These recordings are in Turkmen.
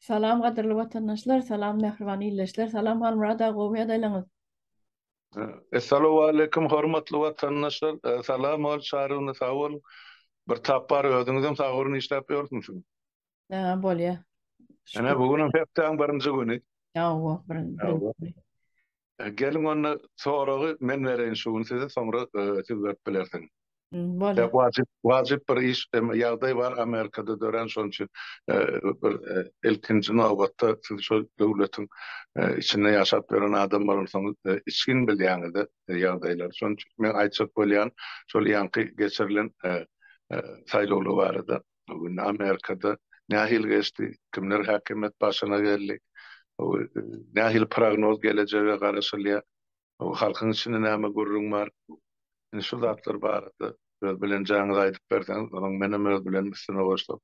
Salam gadyrly watandaşlar salam mähriban illeşler salam Halmurad aga gowy ýadaýlaňyz. Essalowaleýkum hormatly watandaşlar salam ol çaryny sag boluň bir tapar özüňizem sag boluň işläp ýörsiňiz. Haa bolýa. Ene bu günüm hepdäň birinji güni. Ýa owa birinji. Geliň onda soragy men bereýin şu gün size soňra siz berip bilersiň. Bolar. Wajyp wajyp bir iş ýagdaý bar Amerikada dörän şonuň üçin bir ilkinji nobatda siz şo döwletiň içinde ýaşap ýören adam bolansoňyz içgin bilýäňiz ýagdaýlary şonuň üçin men aýtjak bolýan şol ýaňky geçirilen saýlawlar barada. Bu gün Amerikada nähili geçdi, kimler häkimiýet başyna geldi, nähili prognoz gelejege garaşylýar, halkyň içinde näme gürrüň bar, indi şu zatlar barada öz bilenjaňyzy aýdyp berseňiz, onuň menem öz bilenim üstüne goşsam,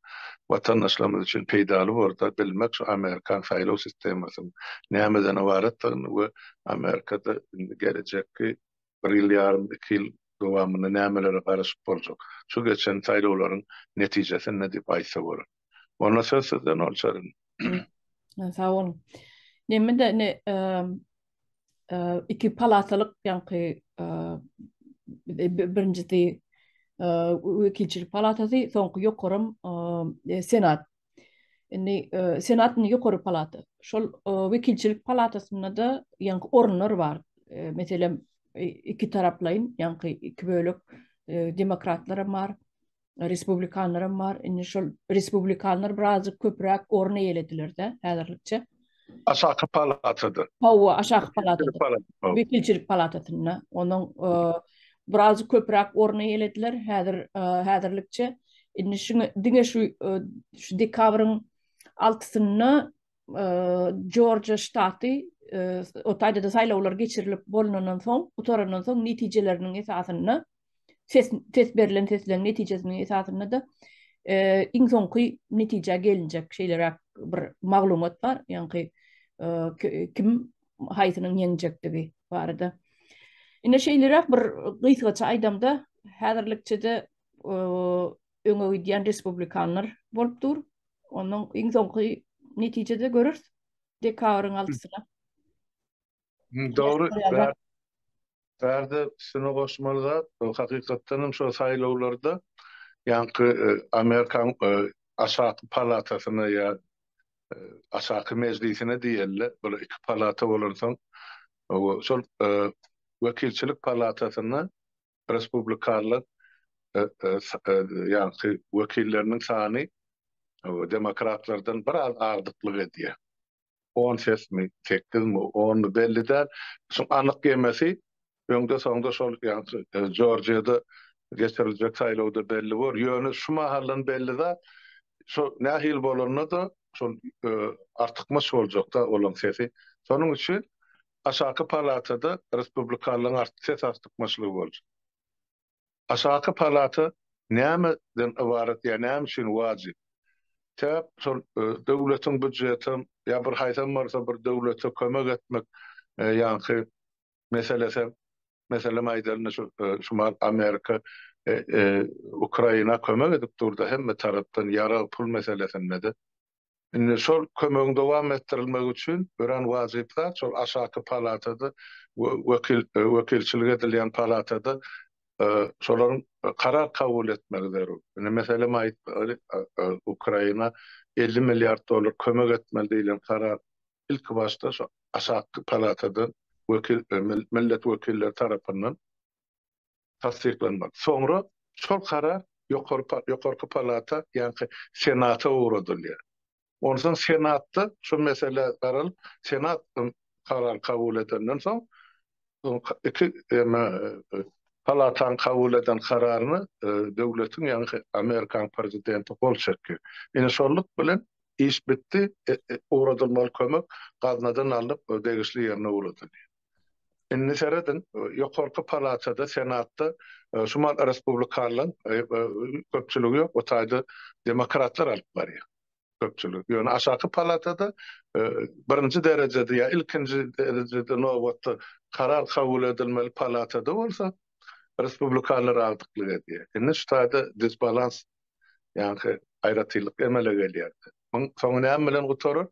watandaşlarymyz üçin peýdaly borda bilmek şu amerikan saýlaw sistemasynyň nämeden ybaratdygyny we Amerikada indi gelejekki bir ýyl ýarym, iki ýyl dowamynda nämelere garaşyp boljak, şu geçen saýlawlaryň netijesinde diýip aýtsa bolar. Onda söz sizde Noly Çaryň. Sag boluň. Neme-de indi iki palatalyk ýaňky birinjisi wekilçilik palatasy, soňky ýokaram senat Indi Senatyn ýokary palata. Şol wekilçilik palatasynda-da ýaňky orunlar bar. Meselem, iki taraplaýyn, ýaňky iki bölek demokratlar hem bar, respublikanlar hem bar. Indi şol respublikanlar birazjyk köpräk orun eýelediler-de häzirlikçe. Aşaky palatada. Hawa, aşaky palatada. Wekilçilik palatasynda. Onuň biraz köpräk orny eýelediler häzir häzirlikçe. Indi şu diňe şu şu dekabryň altysynda Jorjiýa ştaty o taýda-da saýlawlar geçirilip bolnandan soň, gutarandan soň netijeleriniň esasynda ses ses berlen sesleriň netijesiniň esasynda-da iň soňky netijä gelinjek şeýleräk bir maglumat bar, ýaňky kim haýsynyň ýeňjekdigi barada. Ine şeýleräk bir gysgaça aýdamda häzirlikçede öňe gidýän respublikanlar bolup dur. Onuň iň soňky netijede görürs dekabryň altysyna. Dogry. Bärde şuna goşmaly zat, hakykatdan hem şol saýlawlarda ýaňky e, Amerikan e, aşaky palatasyna ýa e, aşaky mejlisine diýerler. Bu iki palata bolansoň şol wekilçilik palatasyna respublikanlar ýaňky wekilleriniň sany demokratlardan biraz agdyklyk edýär. on sesmi, sekizmi, onmy belli däl. Şuň anyk ýemesi öňde-soňda şol ýa-da Jorjiýada geçiriljek saýlawda belli bor. Ýöne şu mahaldan belli zat, şo nähili bolanda-da şol artykmaç boljak-da olaň sesi. Şonuň üçin aşaky palatada respublikanlaryň ses artykmaçlygy boljak. Aşaky palata näme den ybarat ýa näme üçin wajyp? Sebäp şol döwletiň býujetem ýa bir haýsam bolsa bir döwlete kömek etmek ýaňky meselesem meselem aýdalynda şu Şumal Amerika Ukraina kömek edip durda hemme tarapdan ýarag pul meselesinde de Indi şol kömegiň dowam etdirilmegi üçin örän wajyp zat şol aşaky palatada wekilçilik edilýän palatada şolaryň karar kabul etmegi zerur. Indi meselem aýtmaly, Ukraina elli milliard dollar kömek etmeli diýlen karar ilki başda şu aşaky palatadan millet wekilleri tarapyndan tassyklanmaly. Soňra şol karar ýokarky palata, ýagny senata ugradylýar. Onsoň senatda şu mesele garalyp, senat karar kabul edenden soň, iki palataň kabul eden kararyna döwletiň, ýagny Amerikanyň prezidenti gol çekýär. Ine şonluk bilen iş bitdi, ugradylmaly kömek gaznadan alnyp, degişli ýerine ugradylýar. Indi serediň, ýokarky palatada, senatda şu mahaly respublikanlaryň köpçüligi ýok, o taýda demokratlar alyp barýar köpçüligi. Ýöne aşaky palatada birinji derejede ýa ilkinji derejede nobatda karar kabul edilmeli palatada bolsa respublikanlar agdyklyk edýär. Indi şu taýda disbalans, ýagny aýratynlyk emele gelýär. Muň soňy näme bilen gutarar,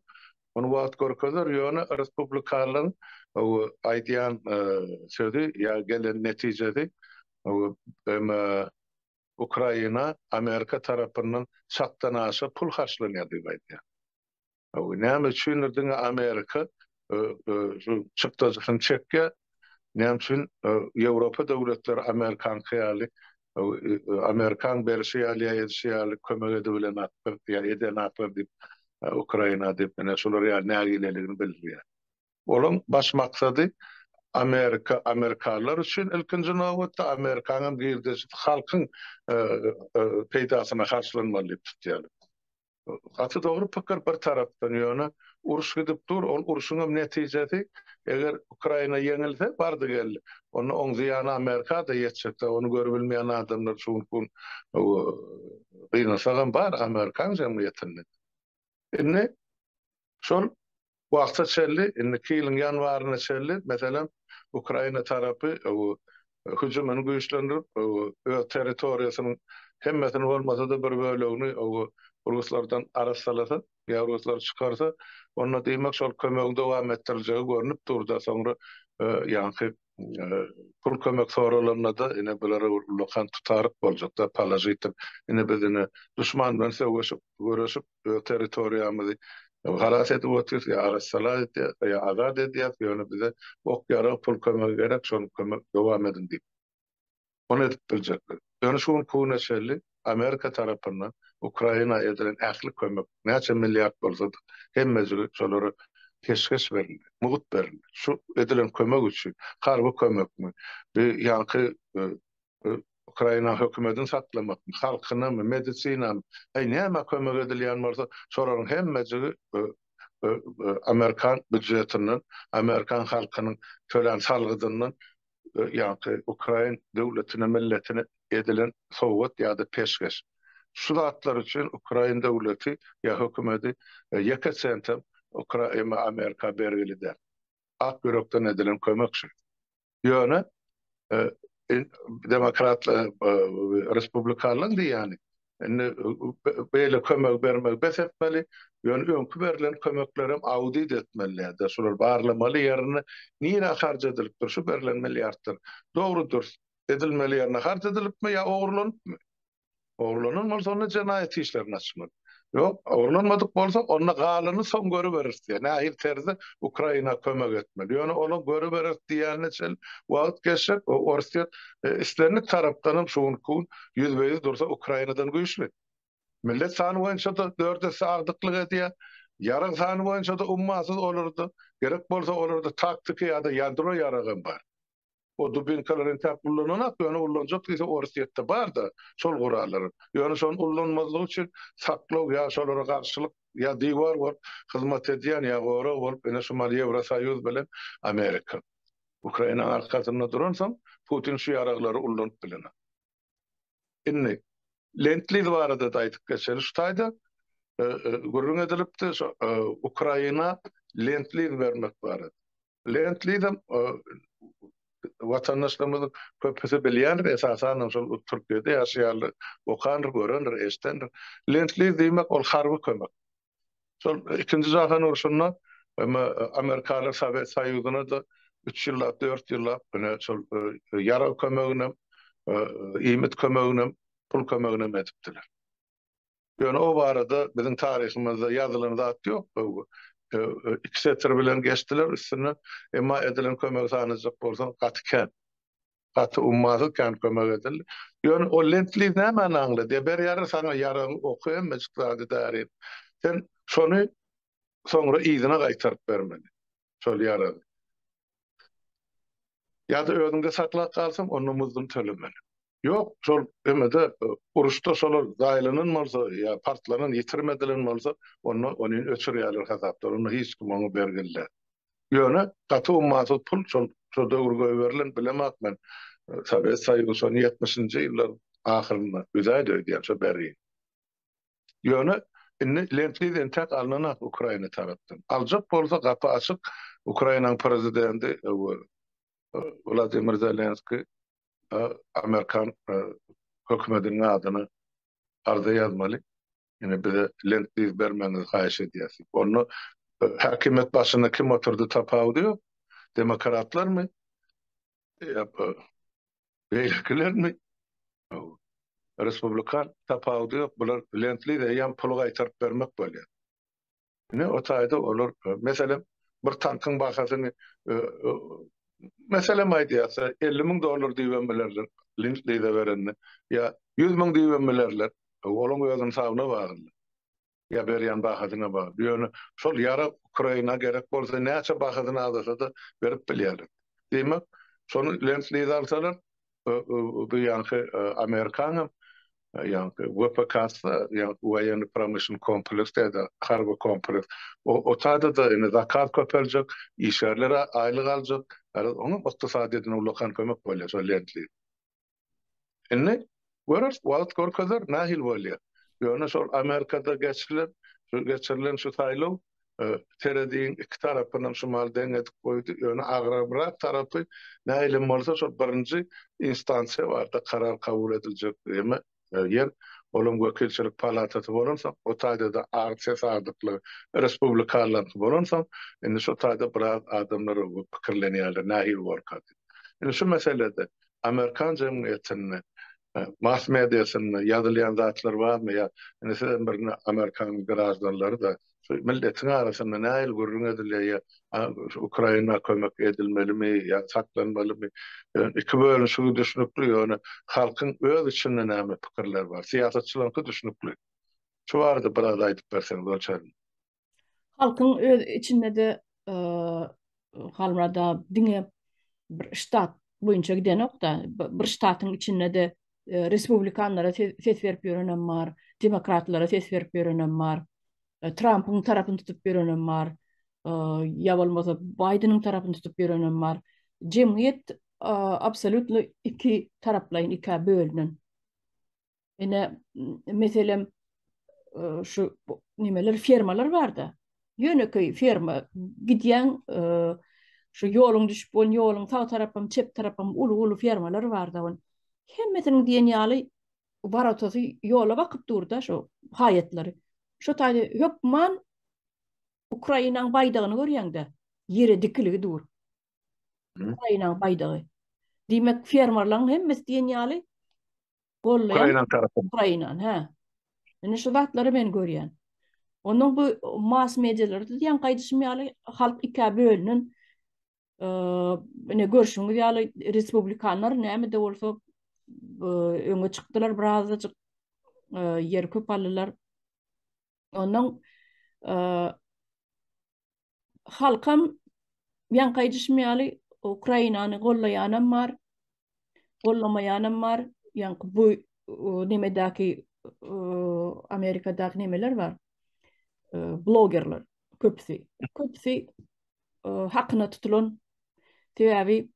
muny wagt görkezer, ýöne respublikanlaryň aýdýan sözi ýa gelen netijesi BMG, Ukraina Amerika tarapyndan çakdan aşa pul harçlanýar diýip aýdýar. Näme üçindir diňe Amerika şu çykdajysyny çekýär. Näme üçin Ýewropa döwletleri amerikanky ýaly, amerikan berşi ýaly ýa edişi ýaly kömek edibilenaklar ýa edenaklar diýip, Ukraina diýip, ine, şular ýaly nägileligini bildirýär. Olaň baş maksady Amerika, amerikalylar üçin ilkinji nobatda, amerikan hem girdejisi halkyň peýdasyna harçlanmaly diýip tutýarlar. Gaty dogry pikir bir tarapdan ýöne uruş gidip dur ol uruşuňam netijesi eger Ukraina ýeňilse bardy geldi onda oň zyýany Amerikada ýetjek da ony görübilmeýän adamlar şu günki gün gynasagam bar Amerikan jemgyýetinde indi şol Wagta çenli, indiki ýylyň ýanwaryna çenli, meselem, Ukraina tarapy hüjümini güýçlendirip, öz territoriýasynyň hemmesini bolmasa-da, bir bölegini ruslardan arassalasa, ýa ruslar çykarsa, onda diýmek, şol kömegi dowam etdiriljegi görnüp dur-da, soňra ýaňky pul kömek soralanda-da ine bulara ullakan tutaryk boljak-da, položitiv. Ine biz ine duşman bilen söweşip, göreşip, öz territoriýamyzy halas edip otyrys, ýa arassala edýäs, ýa azat edýäs, ýöne bize ok-ýarag, pul kömegi gerek, şol kömek dowam ediň diýip. Muny edip biljekler. Ýöne şu günki güne çenli Amerika tarapyndan Ukraina edilen ähli kömek, näçe milliard bolsa-da, hemmejigi şolara peşgeş berildi, mugt berildi. Şu edilen kömek üçin, harby kömekmi, bi ýanky Ukraina hökümedini saklamakmy, halkynamy, medisinamy, äý nämä kömek edilýän bolsa, şolaryň hemmejigi amerikan býujetinden, amerikan halkynyň tölän salgydyndan ýa-da ukrain döwletine, milletine edilen sowgat ýa-da peşgeş. Şu zatlar üçin ukrain döwleti ýa hökümeti ýeke sentem Ukraina, Amerika bergili däl. Ak ýürekden edilen kömek şu. Ýöne demokratlar, respublikanlaryň diýýäni, Indi beýle kömegi bermegi bes etmeli, ýöne öňki berlen kömeklerem audit etmelidä, şular barlamaly ýerini nirä harç edilipdir şu berlen milliardlar? Dogry-dürs edilmeli ýerine harç edilipmi ýa ogurlanypmy? Ogurlanan bolsa onda jenaýat işlerini açmaly. Ýok, ogurlanmadyk bolsa onda galany soň görüberis diýýär. Nähili terzde Ukraina kömek etmeli? Ýöne onuň görüberis diýýänine çenli wagt geçjek, o Orsýet islendik tarapdanam şu günki gün ýüzbe-ýüz dursa Ukrainadan güýçli. Millet sany boýunça-da dört esse agdyklyk edýär. Ýarag sany boýunça-da ummasyz olarda, gerek bolsa olarda taktiki ýa-da ýadro ýaragam bar. O dubinkalary entäk ullananak, ýöne ullanjak diýse Orsýetde bar-da şol gurallar. Ýöne şony ullanmazlyk üçin saklaw ýa şolara garşylyk ýa diwar bolup hyzmat edýän ýa gorag bolup ine şu mal Ýewrosoýuz bilen Amerika. Ukrainaň arkasynda duransoň Putin şu ýaraglary ullanyp bilenok. Indi Lentliz barada-da aýdyp geçeli şu taýda. Gürrüň edilipdi, şu Ukraina Lentliz bermek barada. Lentlizem watandaşlarymyzyň köpüsi bilýändir, esasanam şol Türkiýede ýaşaýanlar okandyr, görendir, eşidendir. Lentliz diýmek ol harby kömek. Şol ikinji jahan urşunda emma amerikaly Sowet Soýuzyna-da üç ýyllap, dört ýyllap ine şol ýarag kömeginem, iýmit kömeginem, pul kömeginem edipdiler. Ýöne o barada biziň taryhymyzda ýazylan zat ýok. Iki setir bilen geçdiler üstünden, emma edilen kömegi sanajak bolsaň gaty kän. Gaty ummasyz kän kömek edildi. Ýöne o lentliz nämäni aňlady? E berýärler saňa ýaragy, oky hemmejik zady darin. Sen şony soňra yzyna gaýtaryp bermeli. Şol ýaragy. Ýa-da özüňde saklap galsaň, onda muzdun tölemeli. Ýok, şol emede uruşda şolar zaýalanan bolsa ýa partlanan, ýitirim edilen bolsa, onda ony öçürýärler hasapdan. Onda hiç kim oňa bergili däl. Ýöne gaty ummasyz pul şol şo döwür goýberilen bilemok men. Sowet Soýuzy şony ýetmişinji ýyllaryň ahyrynda üzäýdi öýdýän şo bäri. Ýöne indi Lemtliz entäk alnanak Ukraina tarapdan. Aljak bolsa gapy açyk Ukrainanyň prezidenti Wladimir Zelenskiý Amerikan hökümetiniň adyna arza ýazmaly. Indi bize lentliz bermegiňizi haýyş edýäs. Onda häkimiýet başynda kim oturdy tapawudy ýok. Demokratlarmy? Ýa-da beýlekilermi? Respublikan tapawudy ýok. Bular lentliz eýýäm puly gaýtaryp bermek bolýar. Ine, o taýda olar, meselem, bir tankyň bahasyny, meselem aýdýarsa, elli müň dollar diýibem bilerler, Lend-Lize berende, ýa ýüz müň diýibem bilerler, olaň öz ynsabyna bagly, ýa berýän bahasyna bagly. Ýöne şol ýarag Ukraina gerek bolsa, näçe bahasyny azasa-da berip bilýärler. Diýmek, şony Lend-Lize alsalar, bu ýaňky amerikanyň ýaňky WPKS-da ýaňky Woýenny Promyşlnyk Kompleks diýdi, Harby Kompleks. O taýda-da indi zakaz köpeljek, işgärler aýlyk aljak, garaz oňam ykdysadyýetine ullakan kömek bolýar şol Lendliz. Indi göreris, wagt görkezer nähili bolýar. Ýöne şol Amerikada geçilen, geçirilen şu saýlaw Seredigiň iki tarapynam şumal deň edip goýdy, ýöne agrabrak tarapy nähilem bolsa şol birinji instansiýa barada karar kabul ediljek ýeme ýer, olam wekilçilik palatasy bolansoň, o taýda-da az ses azlykly respublikanlaryňky bolansoň, indi şo taýda biraz adamlar pikirlenýärler nähili borka diýip. Indi şu meselede amerikan jemgyýetinde mass mediasynda ýazylýan zatlar barmy ýa indi siz hem bir amerikanyň graždanlary da şu milletiň arasynda nähili gürrüň edilýär ýa ukraina kömek edilmelimi ýa saklanmalymy iki bölünişigi düşnükli ýöne halkyň öz içinde näme pikirler bar syýasatçylaryňky düşnükli şu barada biraz aýdyp berseňiz onçaýly Halkyň öz içinde-de Halmyrada diňe bir ştat boýunça gidenok-da, bir ştatyň içinde-de respublikanlara ses berip ýörenem bar, demokratlara ses berip ýörenem bar, Trampyň tarapyny tutup ýörenem bar, ýa bolmasa Baýdeniň tarapyny tutup ýörenem bar. Jemgyýet absolýutno iki taraplaýyn, ikä bölünen. Ine, meselem, şu nimeler fermalar barda. Ýönekeý ferma gidýän şu ýoluň düşüp bolan ýoluň sag tarapym, çep tarapym uly-uly fermalar barda. On hemmesiniň diýen ýaly baratasy ýola bakyp durda şu haýatlary. Şu taýda hökman Ukrainaň baýdagyny görýäňde, ýere dikiligi dur. Ukrainaň baýdagy. Diýmek, fermalarlaryň hemmesi diýen ýaly Gollaýan Ukraina tarapy. Ukraina, hä. Indi şu zatlary men görýän. Onuň bu mass medialary diýen gaýdyşym ýaly halk ikä bölünen. Ine görşüňiz ýaly respublikanlar näme de bolsa öňe çykdylar birazajyk ýer köp aldylar. Onuň halkam ýaňky aýdyşym ýaly Ukrainany gollaýanam bar, gollamaýanam bar. Ýaňky bu nemedäki Amerikadaky nemeler bar. Blogerler köpüsi. Köpüsi hakyna tutulan sebäbi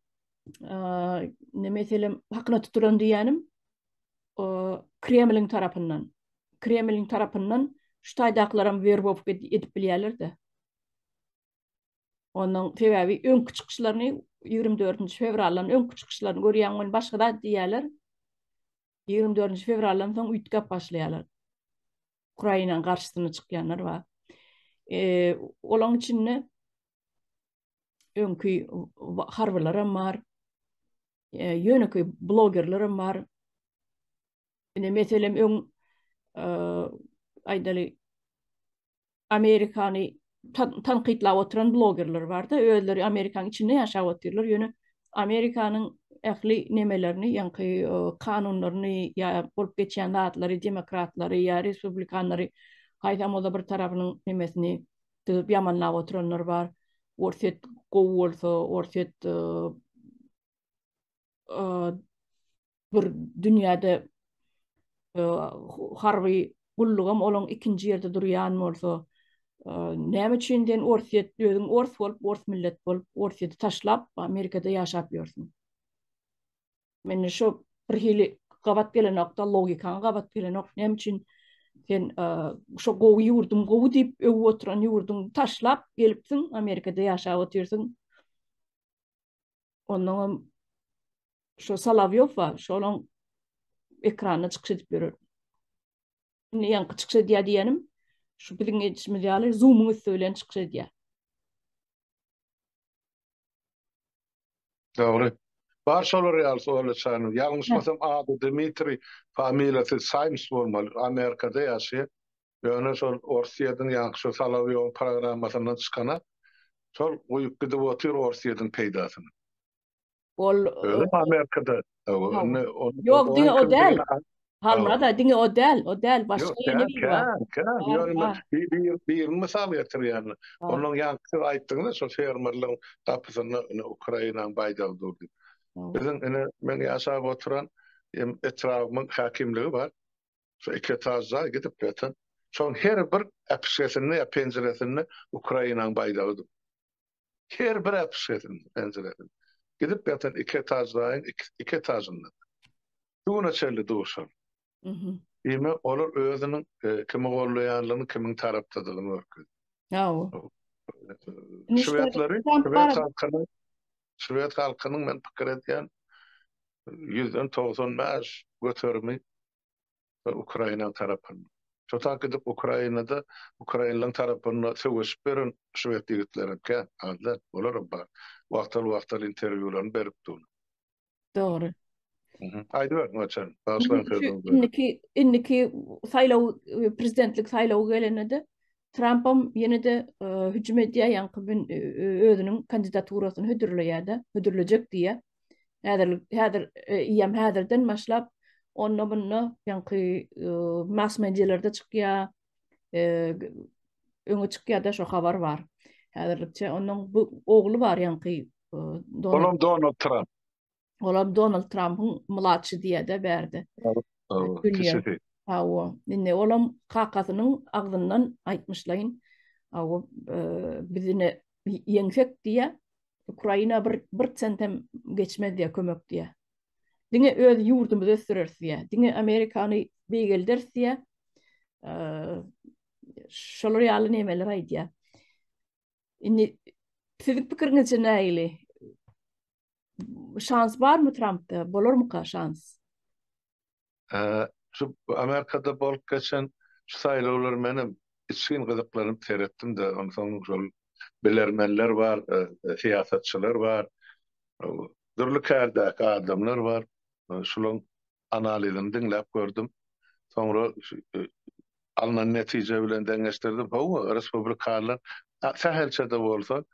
ne meselem hakyna tutulan diýenim Kremliň tarapyndan. Kremliň tarapyndan şu taýdakylaram werbowka edip bilýärler-de. Onuň sebäbi öňki çykyşlaryny 24-nji fewraldan öňki çykyşlaryny görýän gün başga zat diýýärler. 24-nji fewraldan soň üýtgäp başlaýarlar. Ukrainanyň garşysyna çykýanlar bar. Eee, olaň içinde öňki harbylaram bar. ýönekeý blogerlerem bar. Ine meselem öň aýdaly Amerikany tankytlap oturan blogerler barda, özleri Amerikanyň içinde ýaşap otyrlar, ýöne Amerikanyň ähli nemelerini, ýaňky kanunlaryny ýa bolup geçýän zatlary, demokratlary ýa respublikanlary haýsam bolsa bir tarapynyň nemesini Düzüp ýamanlap oturanlar bar. Orsýet gowy bolsa, Orsýet bir dünýäde harby gullugam olaň ikinji ýerde durýan bolsa, näme üçin sen Orsýet özüň ors bolup, ors millet bolup, Orsýeti taşlap, Amerikada ýaşap ýörsüň? Mende şu bir hili gabat gelenokda logikaň gabat gelenok. Näme üçin sen e, şu gowy ýurduň gowy diýip öwüp oturan ýurduň taşlap gelipsiň, Amerikada ýaşap otyrsyň. Ondan hem şu Salavýow bar, şonuň ekranda çykyş edip ýörer. Indi ýaňky çykyş edýär diýenim, şu biziň edişimiz ýaly Zoom-yň üsti bilen çykyş edýär. Dogry. Bar şolar ýaly suwalçyany. Ýalňyşmasam ady Dmitriý, familiýasy Saýms bolmaly. Amerikada ýaşaýar. Ýöne şol Orsýediň ýaňky şo Solowýowyň programmasyndan çykana şol guýup gidip otyr Orsýediň peýdasyna. Ol. Özem Amerikada. Ýok, diňe o däl. Halmyrat, diňe o däl, o däl, başga ýene biri bar. Ýok, kän, kän, ýöne men birini mysal getirýän. Ondan ýaňky siz aýtdyňyz-a, şol fermerligiň gapysynda ine Ukrainanyň baýdagy dur diýip. Biziň ine, meň ýaşap oturan etrabymyň häkimligi bar. Şo iki etaž jaý gidip ýatan. Şonuň her bir äpişgesinde ýa penjiresinde Ukrainanyň baýdagy dur. Her bir äpişgesinde, penjiresinde. Gidip ýatan iki etaž jaýyň iki etažynda. Şu güne çenli duşan. Diýmek, olar özüniň kimi gollaýanlygyny, kimiň tarapdadygyny görkezýär. Hawa. Şwedleri, şwed halkyny, şwed halkynyň men pikir edýän, ýüzden togsan bäş göterimi we Ukraina tarapynda. Şo tak gidip Ukrainada ukrainlaryň tarapynda söweşip ýören şwed ýigitleri hem kän, az däl, olaram bar. Wagtal-wagtal interwýularyny berip durlar. Dogry. Aýdyber, Noçan, bagyşlaň sözüňizi. Indiki, indiki saýlaw, prezidentlik saýlawy gelende-de Trampam ýene-de hüjüm edýär, ýaňky gün özüniň kandidaturasyny hödürleýär-de, hödürlejek diýýär. Häzir, häzir, eýýäm häzirden başlap, onda-munda ýaňky mass-medialerde çykýar, öňe çykýar-da, şo habar bar. Häzirlikçe onuň bu ogly bar ýaňky. Olam Donald Tramp. Olam Donald Trumpyň mlaçy diýede bärde. Awa, awa. Indi olam kakasynyň agzyndan aýtmyşlaýyn. Awa, e, bizine ýeňsek diýä, Ukraina bir bir sent hem geçmez diýä kömek diýä. Diňe öz ýurdumyzy ösdüreris diýä. Diňe Amerikany beýgelderis diýä. E, şolar ýaly nemeler aýdýa. Indi siziň pikiriňizçe nägili? şans barmy Trampda? Bolarmyka şans? Ee, şu Amerikada bolup geçen şu saýlawlar menem içgin gyzyklanyp seretdim-de, onsoň şol bilermenler bar, e, e, syýasatçylar bar, e, dürli kärdäki adamlar bar. E, Şularyň analizini diňläp gördüm. Soňra alnan netije bilen deňeşdirdim. Hawa, respublikanlar sähelçe-de bolsa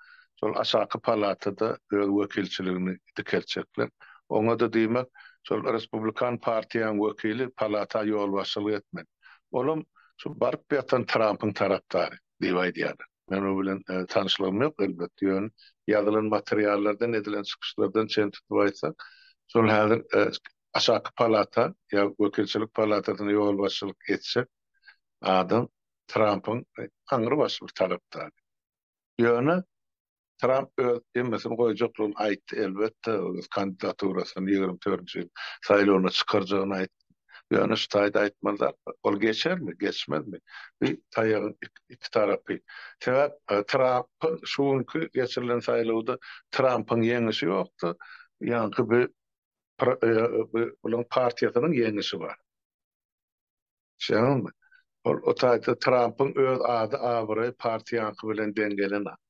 şol aşaky palatada öz wekilçiligini dikeltjekler. Oňa-da diýmek, şol respublikan partiýanyň wekili palata ýolbaşçylyk etmeli. Olam şu baryp ýatan Trampyň tarapdary diýip aýdýarlar. Men o bilen tanyşlygym ýok elbetde, ýöne ýazylan materiallardan, edilen çykyşlardan çen tutup aýtsak, şol häzir aşaky palata ýa wekilçilik palatasyna ýolbaşçylyk etjek adam Trampyň aňrybaşy bir tarapdary. Ýöne Tramp öz hemmesini goýjakdygyny aýtdy, elbetde, öz kandidaturasyny ýigrimi dördünji ýyl saýlawyna çykarjagyny aýtdy. Ýöne şu taýda aýtmaly zat bar. Ol geçermi, geçmezmi? Bu taýagyň iki tarapy. Sebäp Trampyň şu günki geçirilen saýlawda Trampyň ýeňişi ýokdy, ýaňky bu bularyň partiýasynyň ýeňişi bar. Şeýlelikde, ol o taýda Trampyň öz ady-abraýy partiýaňky bilen deň gelenok.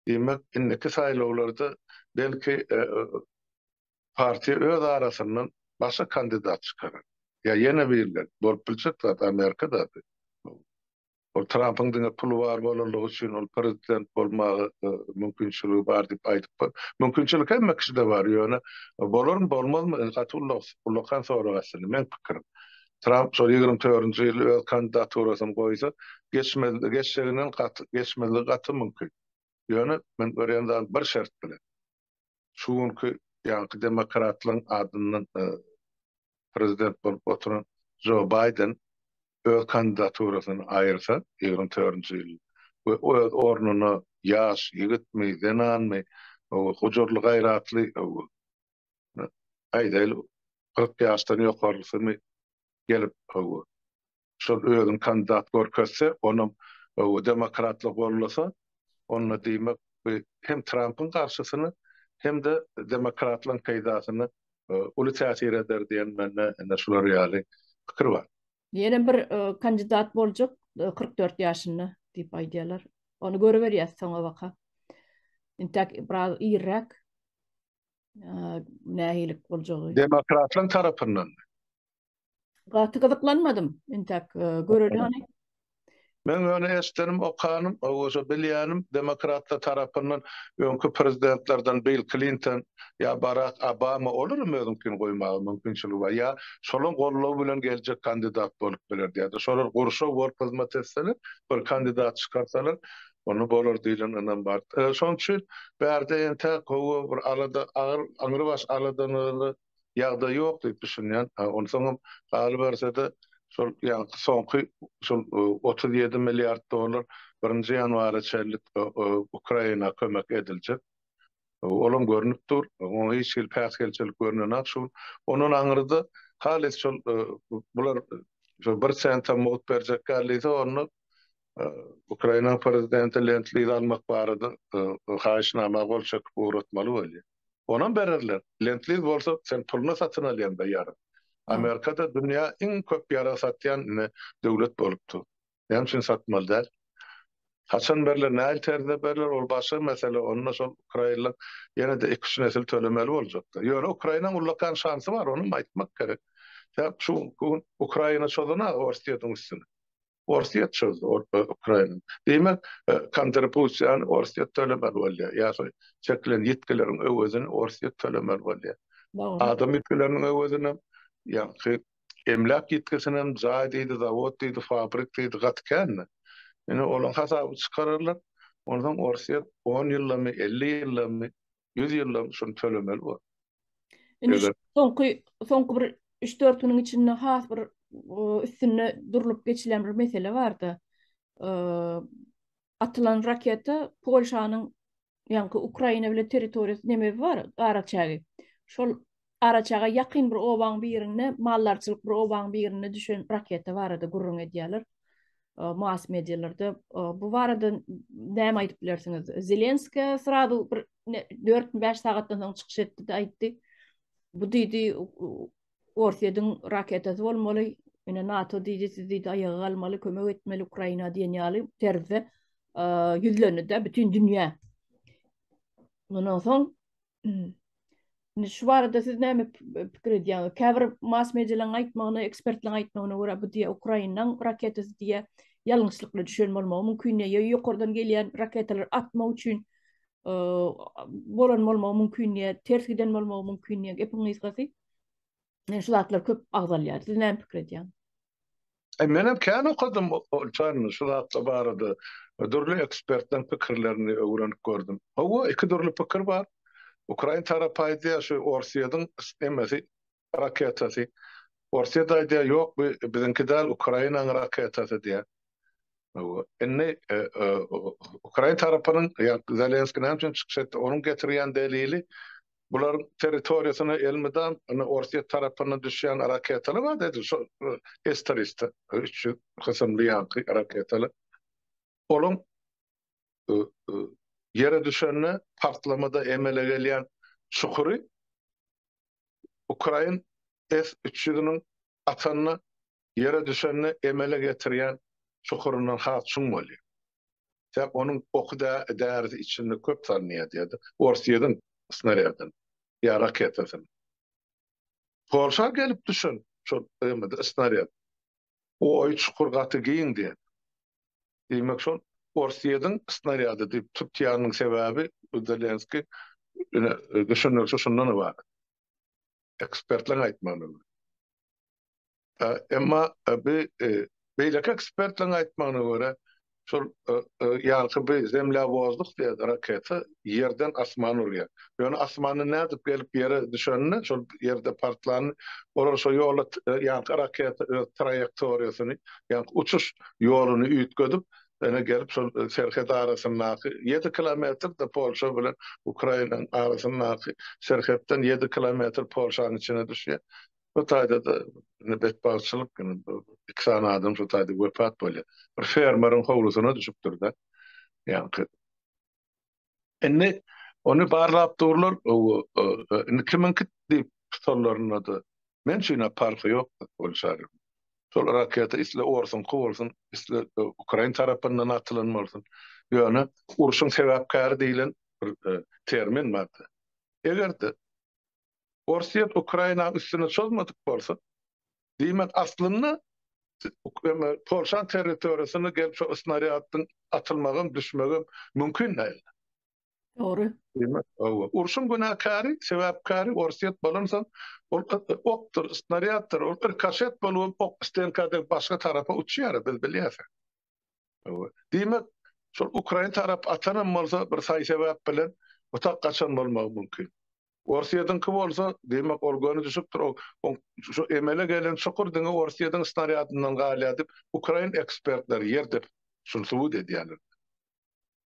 Diýmek, indiki saýlawlarda, belki, partiýa öz arasyndan başga kandidat çykarar. Ýa ýene birileri. Bolup biljek zat, Amerika zady bu. Ol Trampyň diňe puly bar bolanlygy üçin ol prezident bolmaga mümkinçiligi bar diýip aýdypdyr. Mümkinçilik hemme kişide bar, ýöne bolarmy, bolmazmy, indi gaty ullakan sorag aslynda. Meň pikirim, Tramp şol ýigrimi törünji ýyl öz kandidaturasyny goýsa, geçjeginden gaty, geçmezligi gaty mümkin. Ýöne men görýän zadym bir şert bilen. şu günki ýaňky demokratlaryň adyndan prezident bolup oturan Jo Baýden öz kandidaturasyny aýyrsa, ýigrimi törünji ýyl we öz ornuna ýaş ýigitmi, zenanmy, gujurly-gaýratly, aýdaýly, kyrk ýaşdan ýokarysymy gelip, şol özüni kandidat görkezse, onuň demokratlar gollasa, onda diýmek bu hem Trampyň garşysyny, hem-de demokratlaryň peýdasyna uly täsir eder diýen mende ine şular ýaly pikir bar. Ýene bir kandidat boljak kyrk dört ýaşynda diýip aýdýarlar. Ony görüberýäs soňabaka. Intäk biraz irräk nähili boljagy. Demokratlaryň tarapyndanmy? Gaty gyzyklanmadym. Entäk göreli hany. Men ýöne eşdenim, okanym, owaşa bilýänim, demokratlar tarapyndan öňki prezidentlerden Bill Klinton ýa Barak Obama olaram özüňkini goýmaga mümkinçiligi bar. Ýa şolaň goldawy bilen geljek kandidat bolup biler diýýärdi. Şolar gurşaw bolup hyzmat etseler, bir kandidat çykarsalar, onda bolar diýlen ynam bar. Şoň üçin bärde entäk gowy bir alada, agyr, aňrybaş aladanyny ýagdaý ýok diýip düşünýän. Onsoňam galyberse-de, şol ýaňky soňky şol otuz ýedi milliard dollar birinji ýanwara çenlik Ukraina kömek ediljek. Olam görnüp dur. Oňa hiç hili päsgelçilik görnenok şu gün. Ondan aňyrda halys şol bular bir sentam mugt berjek ýalysa onda Ukraina prezidenti Lend-liz almak barada haýyşnama gol çekip ugratmaly bolýar. Onam bererler. Lend-liz bolsa sen puluna satyn alýaňda ýarag. Amerikada dünýä iň köp ýarag satýan ine döwlet bolup dur. Näme üçin satmaly däl? Haçan berler, nähili terzde berler ol başga mesele. Onda şol ukrainler ýene-de iki-üç nesil tölemeli boljaklar. Ýöne Ukrainanyň ullakan şansy bar, onam aýtmak gerek. Şu gün Ukraina çozana Orsýetiň üstüne. Orsýet çözdi, Ukraina. Diýmek, kontribusiýany Orsýet tölemeli bolýar, ýa-da çekilen ýitgileriň öwezini Orsýet tölemeli bolýar. Adam ýitgileriniň öwezini hem, ýagny emläk ýitgisini hem, jaý diýdi, zawod diýdi, fabrik diýdi, gaty kände. Indi olaň hasabyny çykararlar, onsoň Orsýet on ýyllamy, elli ýyllamy Ýüz ýyllygyn şuny tölemeli bolar. Indi şu soňky, soňky bir üç-dört günüň içinde has bir üstünde durlup geçilen bir mesele bardy. Atylan raketa Polşanyň ýaňky Ukraina bilen territoriýasy nemebi bar, araçägi. Şol Garaçaga ýakyn bir obaň birinde, maldarçylyk bir obaň birinde düşen raketa barada gürrüň edýärler. Mass medialarda bu barada näme aýdyp bilersiňiz? Zelenskiý srazu bir dört bäş sagatdan soň çykyş etdi-de aýtdy. Bu diýdi, Orsýetiň raketasy bolmaly, ine NATO diýdi, siz diýdi aýaga galmaly, kömek etmeli Ukraina diýen ýaly terzde ýüzlendi-de bütin dünýä. Mundan soň Indi şu barada siz näme pikir edýäňiz? Käbir mass medialeriň aýtmagyna, ekspertleriň aýtmagyna görä, bu diýe Ukrainanyň raketasy diýe ýalňyşlykly düşen bolmagy mümkin diýe. Ýa ýokardan gelýän raketalary atmak üçin bolan bolmagy mümkin diýe, ters giden bolmagy mümkin diýe. Gepiň gysgasy, şu zatlar köp agzalýar. Siz näme pikir edýäňiz? E, menem kän okadym Olçanyň şu zatlar barada. Dürli ekspertleriň pikirlerini öwrenip gördüm. Hawa, iki dürli pikir bar. Ukrain tarapy aýdýar, şu Orsýetiň emesi raketasy. Orsýet aýdýar, ýok, bu biziňki däl, Ukrainanyň raketasy diýýär. Hawa, indi e, e, Ukrain tarapynyň, ýa Zelenskiý näme üçin çykyş etdi? Onuň getirýän delili Bularyň territoriýasyna elmydam indi Orsýet tarapyndan düşýän raketalar bar-da edil şol S-300 üç ýüz kysymly ýaňky raketalar. Olaň ýere düşende partlamada emele gelýän çukury ukrain S-300-niň atanyna Ýere düşende emele getirýän çukuryndan has çuň bolýar. Tek onuň oky dä-därisi içinde köp salynýar diýýärdi. Ors ýediň snarýadyny ýa raketasyny. Polşa gelip düşen şol emede snarýad. Oýy çukur gaty giň diýýär. Diýmek şol ors ýediň snarýady diýip tutýanynyň sebäbi Zelenski ine düşündirişi şundan ybarat. Ekspertleň aýtmagyna görä. Emma bi beýleki ekspertleriň aýtmagyna görä, şol ýanky bi zemlýawozlyk diýen raketa ýerden asmana urýar. Ýöne asmandan nädip gelip ýere düşenini, şol ýerde partlanyny olar şo ýola ýanky raketa öz traýektoriýasyny, ýanky uçuş ýoluny üýtgedip, ene gelip şol serhet arasyndaky ýedi kilometr-de Polşa bilen Ukrainanyň arasyndaky serhetden ýedi kilometr Polşanyň içine düşýär. Şu taýda-da indi betbagtçylyk, indi bu iki sany adam şu taýda wepat bolýar. Bir fermeriň howlusyna düşüpdir-de. Ýaňky. Indi ony barlap durlar, indi kimiňki diýip sorlarynda-da, Men üçin-ä parhy ýok, ol şary. Şol raketa isle orsuňky bolsun, isle ukrain tarapyndan atylan bolsun, ýöne urşuň sebäpkäri diýlen bir termin bar-da. Eger-de Orsýet Ukrainanyň üstüne çozmadyk bolsa, diýmek, aslynda Polşanyň territoriýasyna gelip şo snarýadyň atylmagam, düşmegem mümkin däldi. Dogry. Diýmek, hawa. Urşuň günäkäri, sebäpkäri Orsýet bolansoň, ol okdur, snarýaddyr, ol rikoşet bolubam ok stnka dek başga tarapa uçýar, biz bilýäs. Hawa. Diýmek, şol ukrain tarap atanam bolsa bir saý-sebäp bilen otag gaçan bolmagy mümkin. Orsýediňki bolsa, diýmek, ol göni düşüpdir, oň şu emele gelen çukur diňe Orsýediň snarýadyndan galýar diýip, ukrain ekspertleri ýer depip, şuny subut edýärler.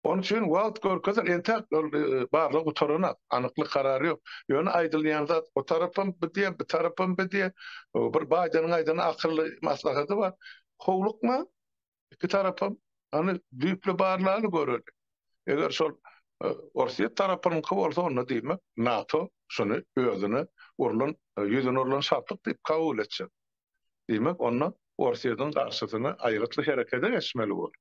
Onuň üçin wagt görkezer, entäk ol barlag gutaranak, anyklyk karary ýok. Ýöne aýdylýan zat, o tarapam bu diýýär, bu tarapam bu diýýär. Bir Baýdeniň aýdan akylly maslahady bar, Howlukma, iki tarapam hany düýpli barlaly göreli. Eger şol Orsýet tarapynyňky bolsa onda diýmek NATO şuny özüne urlan ýüzüne urlan şapyk diýip kabul etjek. Diýmek onda Orsýetiň garşysyna aýgytly herekete geçmeli bolar.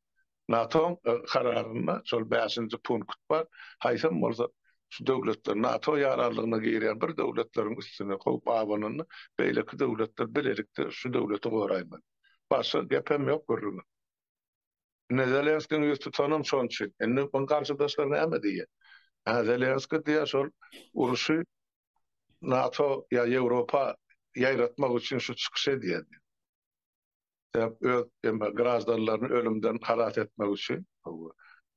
NATO-nyň kararynda şol bäşinji punkt bar, haýsam bolsa şu döwletler NATO ýaraglygyna girýän bir döwletleriň üstüne kowup abananda beýleki döwletler bilelikde şu döwleti goraýmaly. Başga gepem ýok gürrüňe. Indi Zelenskiň ýüz tutanam şon üçin. Indi muny garşydaşlar näme diýýä? Hä, Zelenski diýýä şol uruşy NATO ýa Ýewropa ýaýratmak üçin şu çykyş edýär diýýä. Sebäp öz graždanlaryny ölümden halas etmek üçin.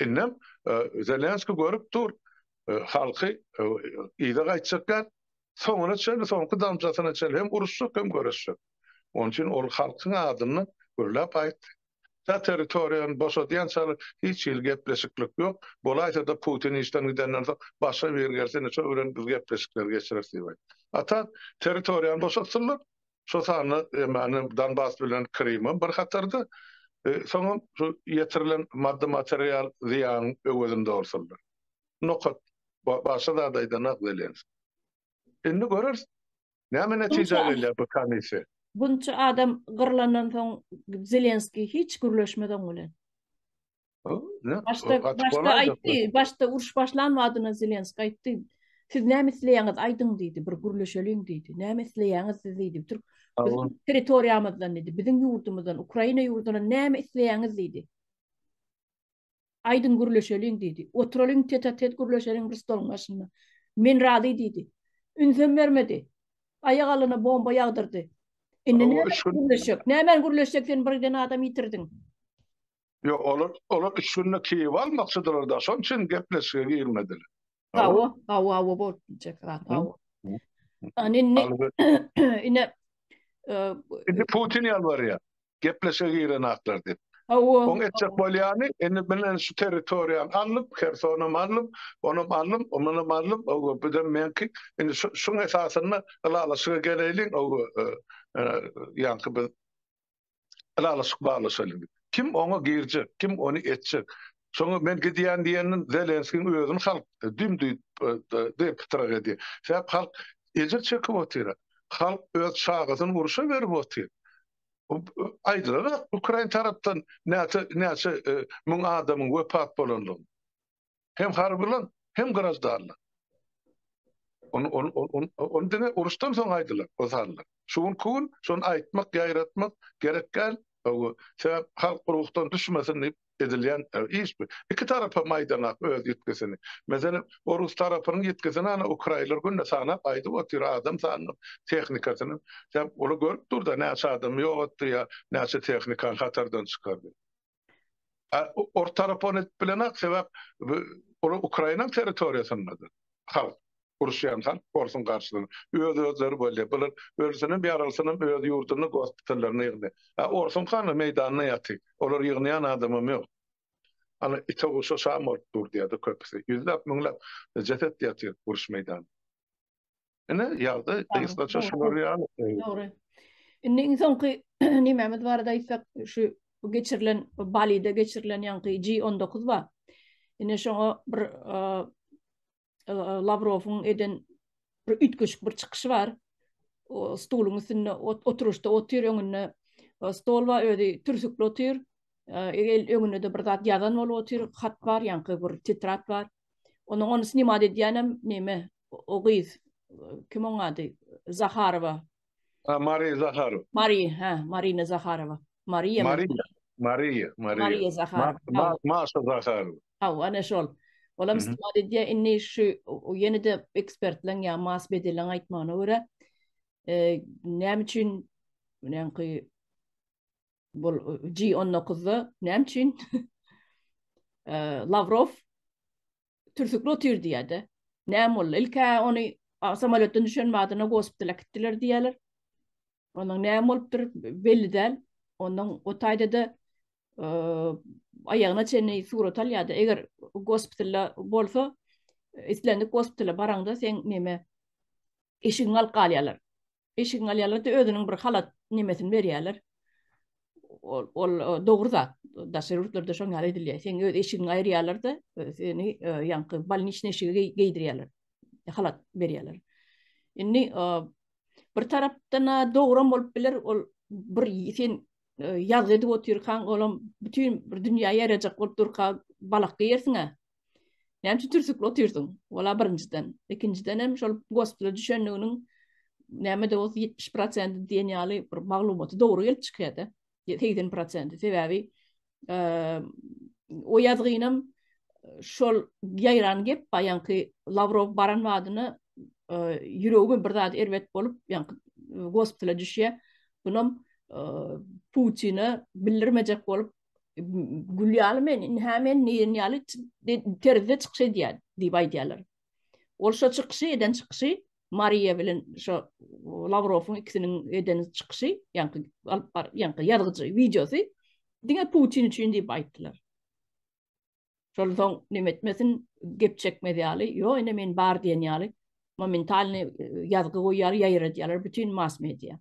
Indem Zelenski görüp dur, halky yza gaýtjak däl, soňuna çenli, soňky damjasyna çenli hem uruşjak, hem göreşjek. Onuň üçin ol halkyň adyny gürläp aýtdy. Tä territoriýany boşadýançaly hiç hili gepleşiklik ýok. Bolaýsa-da Putin işden gidenden soň başga biri gelse, indi şol bilen biz gepleşikleri geçireris diýip aýtdy. Ata territoriýany boşatsynlar, şol sanda ýöne Donbas bilen Krymam bir hatarda, soňam şu ýetirilen maddy-material zyýanyň öwezinde bolsunlar. Nokat başga zat aýdanok Zelenski. Indi göreris, näme netijä gelýär bu komissiýa. Bunça adam gyrlandan soň Zelenski hiç gürleşmez oň bilen. Başda, başda aýtdy, başda uruş başlan wagtyna Zelenski aýtdy, siz näme isleýäňiz aýdyň diýdi, bir gürleşeliň diýdi, näme isleýäňiz siz diýdi, türk territoriýamyzdan diýdi, biziň ýurdumyzdan, Ukraina ýurdundan näme isleýäňiz diýdi. Aýdyň gürleşeliň diýdi. Oturalyň tetatet gürleşeliň bir stoluň başynda. Men razy diýdi. Ünsem bermedi. Aýak alyna bomba ýagdyrdy. Indi näme gürleşjek? Näme gürleşjek sen birden adam ýitirdiň. Ýok, olar, olar üç günde Kiýewi almakçydylar-da, şonuň üçin gepleşige girmediler. Hawa, hawa, hawa bolup biljek zat, hawa. Ýani indi, ine, indi Putin ýalbarýar, gepleşige giren aklar diýip. Hawa. Oň etjek bolýany, indi bilen şu territoriýany alyp, Hersonam alyp, onam alyp, munam alyp, oba bizem meňki, indi şuň esasynda ylalaşyga geleýliň, oba, ýaňky biz ylalaşyk baglaşalyň. Kim oňa girjek, kim ony etjek. Şoňa men gidýän diýenden Zelenskiň özüni halk düm-düýt pytrak edýär. Sebäp halk ejir çekip otyr. Halk öz çagasyny urşa berip otyr. Aýdylarak ukrain tarapdan näçe müň adamyň wepat bolandygyny. Hem harbylar, hem graždanlar. Ony ony ony ony diňe uruşdan soň aýdylar, o sanlar. Şu gün ku gün şony aýtmak, ýaýratmak gerek däl. Hawa, sebäp halk ruhdan düşmesin diýip edilýän iş bu. Iki tarap hem aýdanok öz ýitgisini. Meselem, orus tarapynyň ýitgisini ana ukraýnlar günde sanap aýdyp otyr, adam sanyny, tehnikasynam. Sebäp olar görüp dur-da, näçe adamy ýogatdy ýa näçe tehnikany hatardan çykardy. Ortara pon edip bilenok, sebäp olar Ukrainanyň territoriýasyndadyr. Halk, uruşýan halk porsuň garşysyna. Öz-özleri bolýar. Bular ölsünem, ýarylsynam öz ýurdunda gospitallaryna ýygnaýar. A orsuňky hany meýdanda ýatyr. Olar ýygnaýan adamam ýok. Ana ite-guşa şam bolup dur diýýär-de köpüsi. Ýüzläp, müňläp jeset ýatyr uruş meýdanynda. Ine, ýagdaý gysgaça şular ýaly. Dogry. Indi iň soňky nimämiz barada aýtsak, şu geçirilen Balide geçirilen ýaňky G19 bar. Ine şoňa bir e, e, Lawrowyň eden bir üýtgeşik bir çykyşy bar. O stoluň üstünde oturyşda otyr, öňünde e, stol bar, özi türsükli otyr. Egel öňünde de bir zat ýazan bolup otyr, hat bar, ýaňky bir titrat bar. Onuň ony snimat edýänem neme o gyz kim oň ady Zaharowa. Ha Mari Zaharow. Mari ha Marina Zaharowa. Mariýa Mariýa Mariýa Mariýa Zaharowa. Maşa Zaharowa. Haw ana şol. Olam snimat edýär indi şu ýene-de ekspertleň ýa mas bedeleň aýtmagyna görä näme üçin näme ki Bu G on dokuzda näme üçin Lavrov türsükli otyr diýýärdi. Näme boldy? Ilkä ony samoletden düşen madyna gospitala gitdiler diýýärler. Ondan näme bolupdyr belli däl. Ondan o taýda-da aýagyna çenli surat alýardy. Eger gospitalda bolsa, islendik gospitala baraňda sen näme eşigiňi alyp galýarlar. eşigiň alýarlar-da özüniň bir halat nemesini berýärler. Ol, ol dogry zat. Daşary ýurtlarda şoň ýaly edilýär. Seň öz eşigiňi aýyrýarlar-da, seni ýaňky bolniçny eşigi geýdirýärler. Halat berýärler. Indi bir tarapdan dogry bolup biler, ol bir sen ýazgy edip otyrkaň, olam bütin bir dünýä ýarajak bolup durka balak geýersiň-ä. Näme üçin türsükli otyrsyň? Wala birinjiden. Ikinjiden hem şol gospitala düşendiginiň näme de bolsa 70 prosenti diýen ýaly bir maglumaty dogry gelip çykýar-da. 80 prosenti. Sebäbi o ýazgynam şol ýaýran gep baýanky Lawrow baran wadyna ýüregime bir zat erbet bolup, ýaňky gospitala düşýär. Bunam Putine bildirmejek bolup gül ýaly men indi hä men nirin ýaly terzde çykyş edýän diýip aýdýarlar. Ol şo çykyşy eden çykyşy Mariýa bilen şo Lawrowyň ikisiniň eden çykyşy, ýaňky alyp bar, ýaňky ýazgyjy wideosy diňe Putin üçin diýip aýtdylar. Şonsoň neme etmesin, gep çekmez ýaly, ýok ine men bar diýen ýaly momentalnyý ýazgy goýýar, ýaýradýarlar bütin mass-media.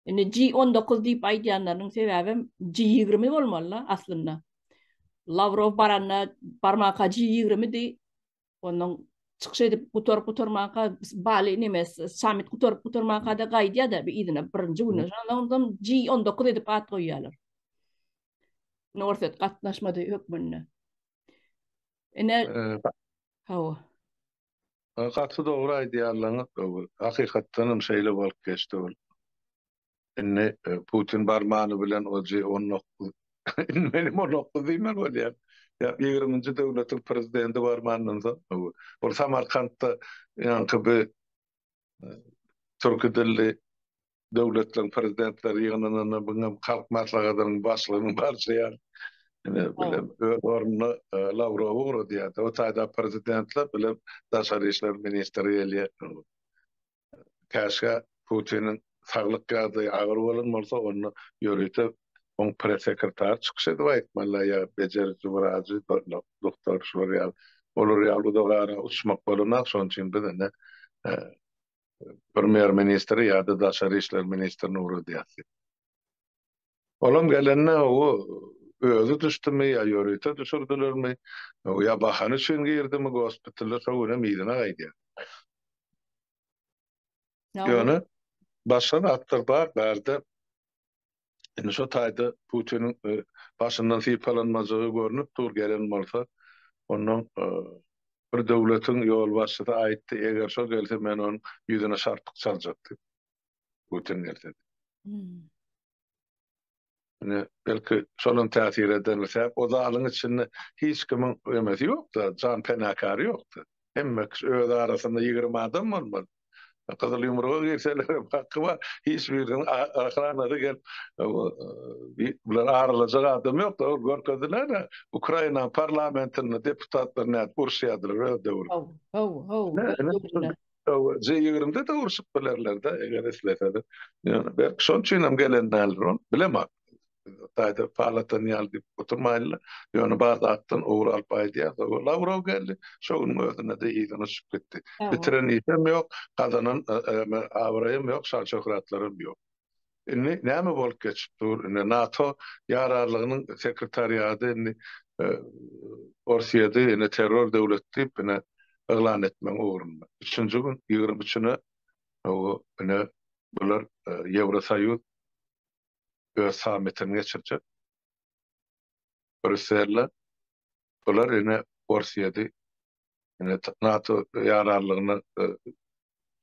Indi G on dokuz diýip aýdýanlarynyň sebäbem G ýigrimi bolmaly-la aslynda. Lawrow baranda barmaka G ýigrimidi, Ondan çykyş edip gutaryp gutarmanka bali neme samit gutaryp gutarmanka da gaýdýar da bir yzyna birinji güni. Ondan G19 edip at goýýarlar. Norset gatnaşmady hökmünde. Ine hawa. Gaty dogry aýdýarlaňyz, dogry. Hakykatdan hem şeýle bolup geçdi ol. Indi Putin barmany bilen ojy on dokuz, indi menem on dokuz diýmeli bolýan. Ýa ýigriminji döwletiň prezidenti barmandan soň, ol Samarkantda ýaňky bi türki dilli döwletleriň prezidentleri ýygnananda biňem Halk Maslahatynyň başlygynyň barşy ýaly. Indi bile öz ornuna Lawrowy ugradýar-da. O taýda prezidentler bile daşary işler ministri gelýär. käşgä Putiniň saglyk ýagdaýy agyr bolan bolsa, onda ýörite oň press-sekretary çykyş edip aýtmalyda ýa bejeriji wrajy, doktor şular ýaly, olar ýaly uzak ara uçmak bolanok, şonuň üçin biz indi premýer-ministri ýa-da daşary işler ministrini ugradýas diýip. Olam gelende o özi düşdimi ýa ýörite düşürdilermi ýa bahany üçin girdimi gospitala şo günem yzyna gaýdýar. Ýöne başga zatlar bar bärde indi şo taýda Putiniň başyndan sypalanmajagy görnüp dur gelen bolsa ondan bir döwletiň ýolbaşçysy aýtdy eger şo gelse men onuň ýüzüne şarpyk çaljak diýip. götün gelsin. Hmm. belki şolam täsir eden sebäp o zalyň içinde hiç kimiň emesi ýokda, jan penakary ýokda. Hemme kişi öz arasynda 20 adam bolmaly. Gyzyl ýumruga girseler hem haky bar. Hiç biriniň ahranady gelip bular aralajak adam ýokda. Ol görkezdiler. Ukraina parlamentinde deputatlar nädip urşýardylar öz döwründe. Haw, haw, haw. Hawa, G20-de de urşup bilerler-de, eger isleseler. Ýöne belki şonuň üçin hem gelen däldir ol, bilemok. Taýda palatan ýaly diýip oturmaýynlar. Ýöne bar zatdan ugur alyp aýdýar. Hawa, Lawrow geldi, şo günüň özünde-de yzyna uçup gitdi. Bitiren işem ýok, gazanan abraýam ýok, şan-şöhratlaram ýok. Indi näme bolup geçip dur? Indi NATO ýararlygynyň sekretariady indi Orsyýedi indi terror döwlet diýip indi yglan etmegiň ugrunda. Üçünji gün ýigrimi üçüne bu indi bular Ýewrosoýuz öz sammitini geçirjek. Brýusselde bular indi Orsyýedi Ine, NATO ýararlygyny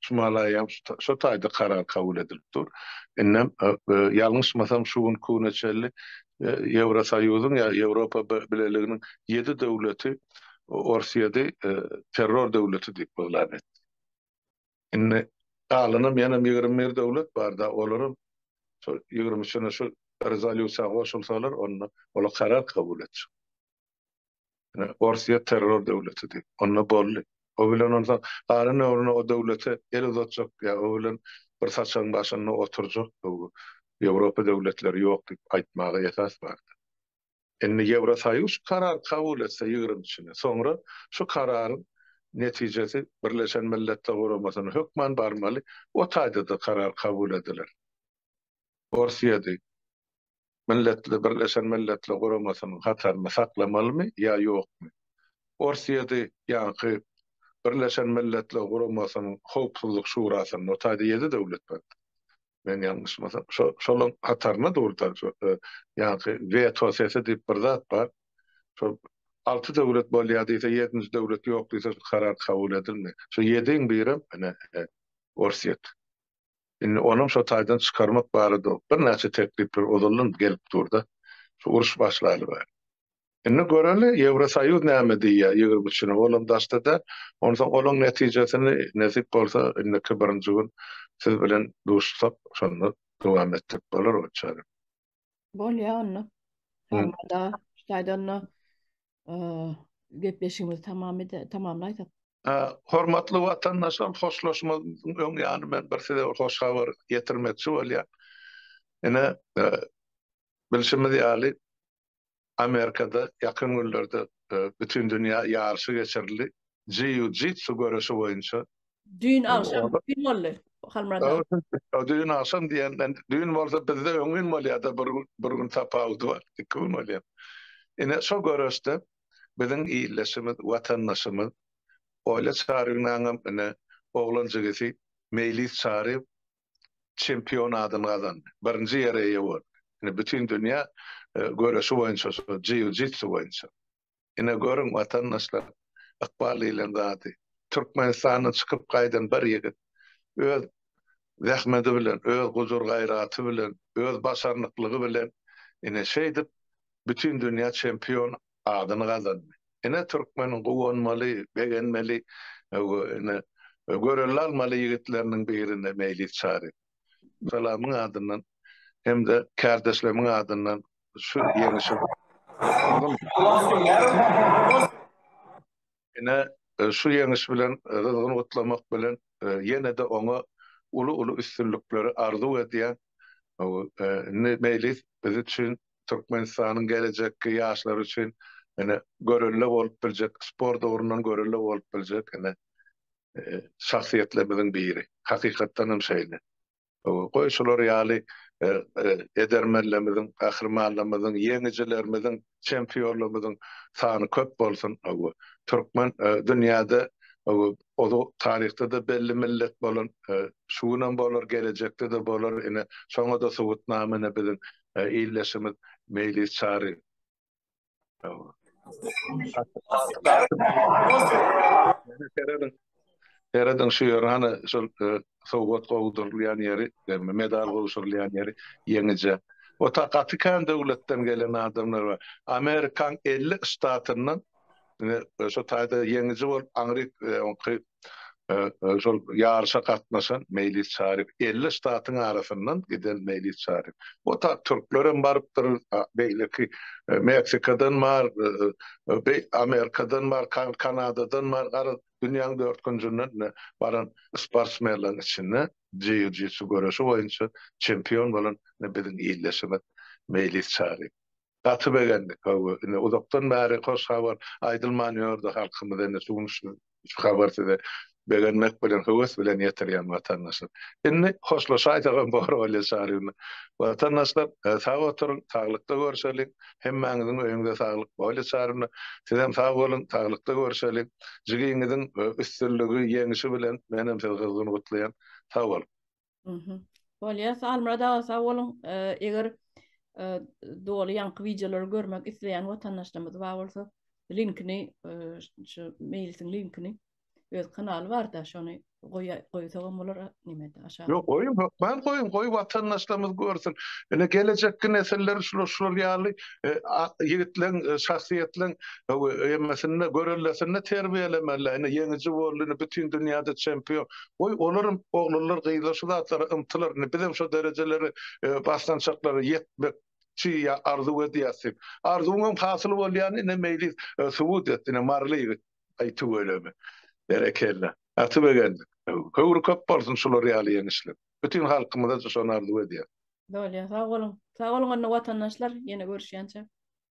şu malaýam şo taýda karar kabul edilip dur. Indem, ýalňyşmasam, şu gün kune çenli Ýewrosoýuzyň ýa Ýewropa Bileliginiň ýedi döwleti Orsyýady terror döwleti diýip yglan etdi. Indi galanam ýenem ýigrimi bir döwlet bar-da, olaram şo ýigrimi üçüne şu rezolýusiýa goşulsalar, onda ola karar kabul etjek. Orsiýa terror döwletidi. Onda boldy. O bilen onsoň galan ömrüne o döwlete el uzatjak ýa o bilen bir saçagyň başynda oturjak bu Ýewropa döwletleri ýok diýip aýtmaga esas bardy. Indi Ýewrosoýuz şu karary kabul etse ýigrimisini, soňra şu kararyň netijesi Birleşen Milletler Guramasyna hökman barmaly, o taýda-da karar kabul ediler. Orsiýady. Milletli Birleşen Milletli Guramasynyň hataryny saklamalymy ýa ýokmy? Orsýedi ýaňky Birleşen Milletli Guramasynyň Howpsuzlyk Şurasynda otady ýedi döwlet bardy. Men ýalňyşmasam, şo-şolaň hatarynda durdy. Ýaňky weto sesi diýip bir zat bar. Şo alty döwlet bolýar diýse, ýedinji döwlet ýok diýse, şu karar kabul edilmeýär. Şu ýediň birem, ine, Orsýet. Indi onam şo taýdan çykarmak barada birnäçe teklipler ozaldan gelip dur-da, şu uruş başlaly bäri. Indi göreli, Ýewrosoýuz näme diýýär ýigrimi üçüne, olam daşda däl. Onsoň olaň netijesini, nesip bolsa, indiki birinji gün siz bilen duşsak, şonda dowam etjek bolarys, onçaýram. Bolýa onda. Formada, şaýda onda gepleşigimizi tamam ede, tamamlaýsak. Hormatly watandaşlar, hoşlaşmazdan öň ýany men bir size bir hoş habar ýetirmekçi bolýan. Ine, bilşimiz ýaly, Amerikada ýakyn günlerde Bütindünýä ýaryşy geçirildi, jiu-jitsu göreşi boýunça. Düýn agşam, düýn boldy, Halmyrat aga. Ýa, düýn agşam diýende, düýn bolsa bizde öň gün bolýar-da, bir gün, bir gün tapawudy bar, iki gün bolýar. Ine, şo göreşde biziň ildeşimiz, watandaşymyz Olýa Çarybynyňam ine oglan jigisi Meýlis Çaryýew çempion adyny gazandy. Birinji ýere eýe boldy. Ine, bütindünýä göreşi boýunça, şol jiu-jitsu boýunça. Ine, görüň, watandaşlar, ykbal diýlen zady. Türkmenistandan çykyp gaýdan bir ýigit öz zähmeti bilen, öz gujur-gaýraty bilen, öz başarnyklygy bilen, ine, şeýdip, bütindünýä çempion adyny gazandy. Ine türkmeniň guwanmaly, begenmeli we ine görelde almaly ýigitleriniň birine Meýlis Çary. Salamyň adyndan hem-de kärdeşlemiň adyndan şu ýeňişe. Ine, şu ýeňiş bilen gyzgyn gutlamak bilen, ýene-de oňa uly-uly üstünlikleri arzuw edýän. Indi Meýlis biz üçin, Türkmenistanyň gelejekki ýaşlary üçin ine, görelde bolup biljek, sport ugrundan görelde bolup biljek ine, şahsyýetlerimiziň biri. Hakykatdan hem şeýle. Goý, şular ýaly edermenlerimiziň, gahrymanlarymyzyň, ýeňijilerimiziň, çempionlarymyzyň sany köp bolsun. Türkmen dünýäde ozal taryhda-da belli millet bolan, şu günem bolar, gelejekde-de bolar. Ine, şoňa-da subutnama ine biziň ildeşimiz Meýlis Çary. Seredin şu ýeri, hany şol e, sowgat gowdurylýan ýeri, ýagny medal gowşurylýan ýeri ýeňije. O ta gaty kän döwletden gelen adamlar bar. Amerikan 50 ştatyndan e, şu taýda ýeňiji bolup aňryk e, Şol ýaryşa gatnaşan Meýlis Çaryp, elli ştatyň arasyndan giden Meýlis Çaryp. O tak türkler hem barypdyr, beýleki Meksikadan bar, Amerikadan bar, Kanadadan bar, garaz, dünýäň dört künjünden baran sportsmenleriň içinde jiu-jitsu göreşi boýunça çempion bolan biziň ildeşimiz Meýlis Çaryp. Gaty begendik hawa ine uzakdan bäri hoş habar aýdylman ýördi halkymyz indi şu gün şu habar size begenmek bilen höwes bilen ýetirýän watandaşlar. Indi hoşlaşaýsagam bor bolýa çaryna. Watandaşlar sag oturyň saglykda görşeliň hemmäňiziň öýüňde saglyk bolýa çaryna sizem sag boluň saglykda görşeliň jigiňiziň üstünligi ýeňişi bilen menem sizi gyzgyn gutlaýan sag boluň. Mhm. Bolýar. Almyrat aga sag boluň. Eger doly ýaňky wideolary görmek isleýän watandaşlarymyz bar bolsa, linkini şu meýlisiň linkini öz kanaly barda şony goýsagam bolar nimede aşaga. Ýok, goýuň, hökman goýuň, goý watandaşlarymyz görsün. Ine gelejekki nesiller şular şular ýaly ýigitleriň, şahsyýetleriň emmesinde, görellesinde terbiýelemeli. Ine ýeňiji boldy, ine bütin dünýäde çempion. Goý, olaram, oglanlar, gyzlar şu zatlara ymtylar, indi bizem şo derejelere, basgançaklara ýetmek çy ýa arzuw edýäs diýip. Arzuwyňam hasyl bolýany, ine, Meýlis subut etdi, ine, Marly ýigit. Aý, tüweleme. Berekella. Gaty begendik. Höwri köp bolsun şular ýaly ýeňişler. Bütin halkymyza-da şony arzuw edýäs. Doly, sag boluň. Sag boluň onda watandaşlar, ýene görüşýänçä.